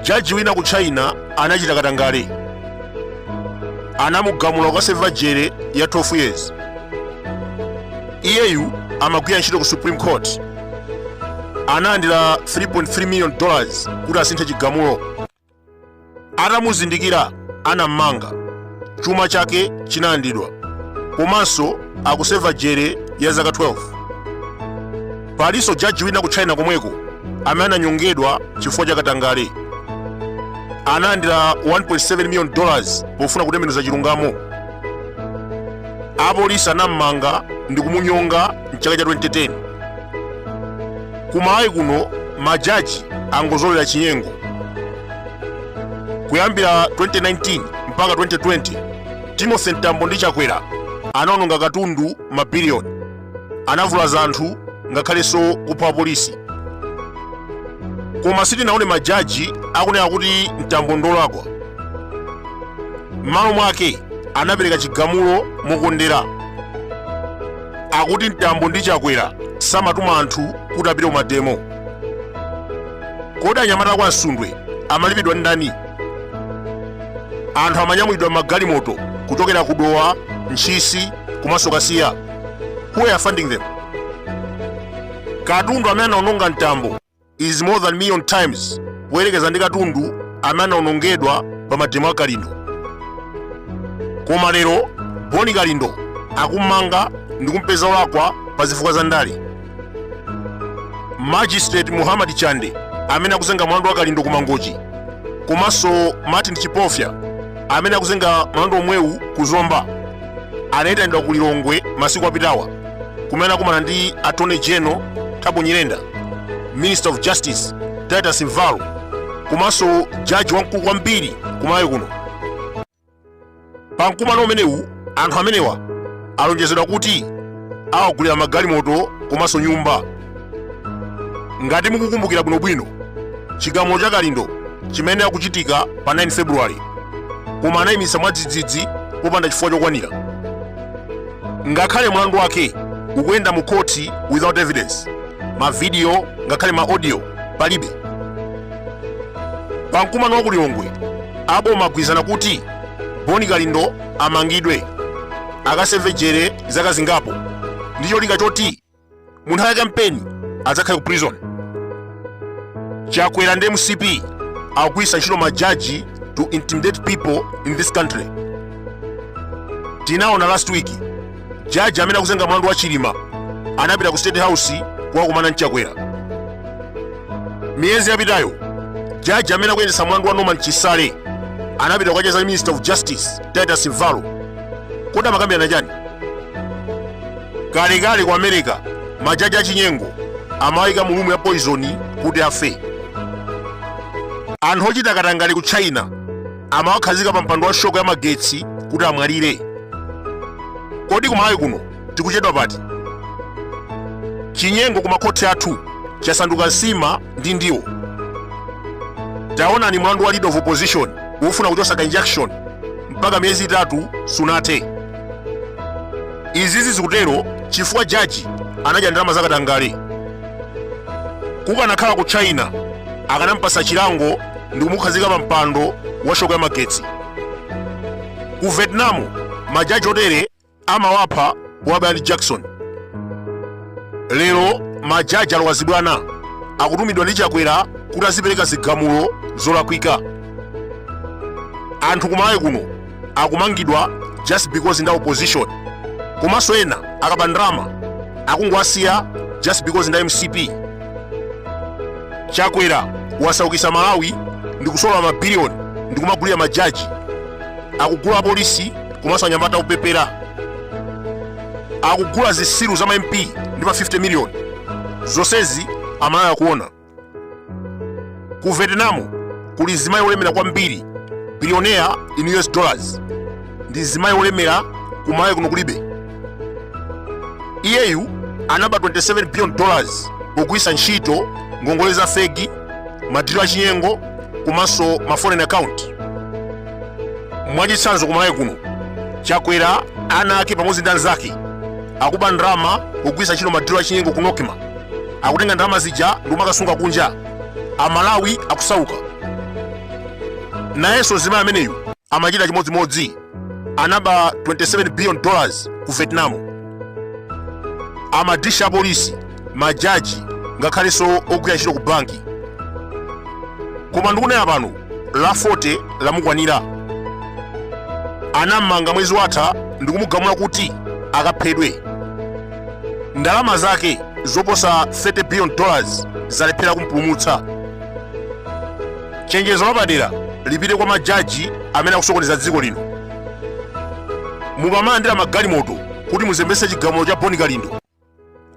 jaji wina ku china anachita katangale anamugamula kukaseva jere ya 12 years iyeyu amagwira ntchito ku supreme court analandira 3.3 million dollars kuti asinthe chigamulo atamuzindikira anammanga chuma chake chinalandidwa komanso akuseva jere ya zaka 12 palinso jaji wina ku china komweko amene ananyongedwa chifukwa cha katangale analandira 1.7 million dollars pofuna kutembenuza chilungamo apolisi anammanga ndi kumunyonga mchaka cha 2010 kumalawi kuno majaji angozolera chinyengo kuyambira 2019 mpaka 2020 timothy mtambo ndi chakwera anaononga katundu mabiliyoni anavulaza anthu ngakhalenso kupha apolisi koma sitinaone majaji akunena kuti mtambo ndolakwa m'malo mwake anapereka chigamulo mokondera akuti mtambo ndi chakwera samatuma anthu kuti apite kumademo kodi anyamata kwa msundwe amalipidwa ndi ndani anthu amanyamulidwa m'magalimoto kuchokera ku dowa ntchisi komanso kasiya Who are funding them? Katundu amene anaononga mtambo is more than million times kuyerekeza ndi katundu amene anaonongedwa pa mademo a Kalindo. Koma lero Boni Kalindo akummanga ndi kumpeza olakwa pa zifukwa za ndale. magistrate muhammad chande amene akuzenga mlandu wa kalindo ku mangochi komanso martin chipofya amene akuzenga mlandu omwewu ku zomba anayitanidwa ku lilongwe masiku apitawa kumene akumana ndi attorney general thabo nyirenda minister of justice titus mvalo komanso jaji wamkulu kwambiri kumalawi kuno pa mkumano umenewu anthu amenewa alonjezedwa kuti awagulira magalimoto komanso nyumba ngati mukukumbukira bwinobwino chigamulo cha kalindo chimayenera kuchitika pa 9 februwale koma anayimitsa mwadzidzidzi popanda chifukwa chokwanira ngakhale mlandu wake ukuyenda mu khoti without evidence mavidiyo ngakhale ma audio palibe pa mkumano wa ku lilongwe aboma agwirizana kuti boni kalindo amangidwe akaseve jere zaka zingapo ndi cholinga choti mu nthawi ya kampeni adzakhale ku prison chakwera ndi mcp akugwiritsa ntchito majaji to intimidate people in this country tinaona last week jaji amene akuzenga mlandu wa chilima anapita ku state house kukakumana ndi chakwera miyezi yapitayo jaji amene akuyendetsa mlandu wa norman chisale anapita kukacheza ndi minister of justice titus mvalo kodi amakambirana chani kalekale ku america majaji achinyengo amawayika mu lumu ya poizoni kuti afe anthu ochita katangale ku china amawakhazika pa mpando wa shoko ya magetsi kuti amwalire kodi kumalawi kuno tikuchedwa pati chinyengo ku makhoti athu chasanduka nsima ndi ndiwo taonani mlandu wa leader of opposition wofuna kuchotsa ka injunction mpaka miyezi itatu sunathe izizi zikutero chifukwa jaji anadya ndalama zakatangale kukanakhala ku china akanampasa chilango ndikumukhazika pa mpando wa shoko ya magetsi ku vietnam majaji otere amawapha powabaya ndi jakisoni lero majaji alowa zibwana akutumidwa ndi chakwera kuti azipereka zigamulo zolakwika anthu kumalawi kuno akumangidwa just because nda opposition komanso ena akaba ndalama akungowasiya just because nda mcp chakwera wasaukisa malawi ndi kusolola mabiliyoni ndi kumagulira majaji akugula apolisi komanso anyamata opepera akugula zisiru za ma mp ndi ma 50 miliyoni zonsezi amalawi akuona ku vietnam kuli mzimayi olemera kwambiri billionaire in us dollars ndi mzimayi olemera ku malawi kuno kulibe iyeyu anaba 27 billion dollars pogwiritsa ntchito ngongole za feki madilo achinyengo komanso ma foreign account mwachitsanzo ku malawi kuno chakwera ana ake pamodzi ndi anzake akuba ndalama pogwiritsa ntchito madilo achinyengo ku nocma akutenga ndalama zija ndi kumakasunga kunja amalawi akusauka nayenso mzimayi ameneyu amachita chimodzimodzi anaba 27 billion dollars ku vietnam amadyetsa apolisi majaji ngakhalenso ogwira ntchito ku banki koma ndikunena pano la 40 lamukwanira anammanga mwezi watha ndikumugamula kuti akaphedwe ndalama zake zoposa 30 billion dollars zalephera kumpulumutsa chenjezo lapadera lipite kwa majaji amene akusokoneza dziko lino mukamalandira magalimoto kuti muzembetse chigamulo cha boni kalindo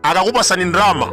akakupasani ndalama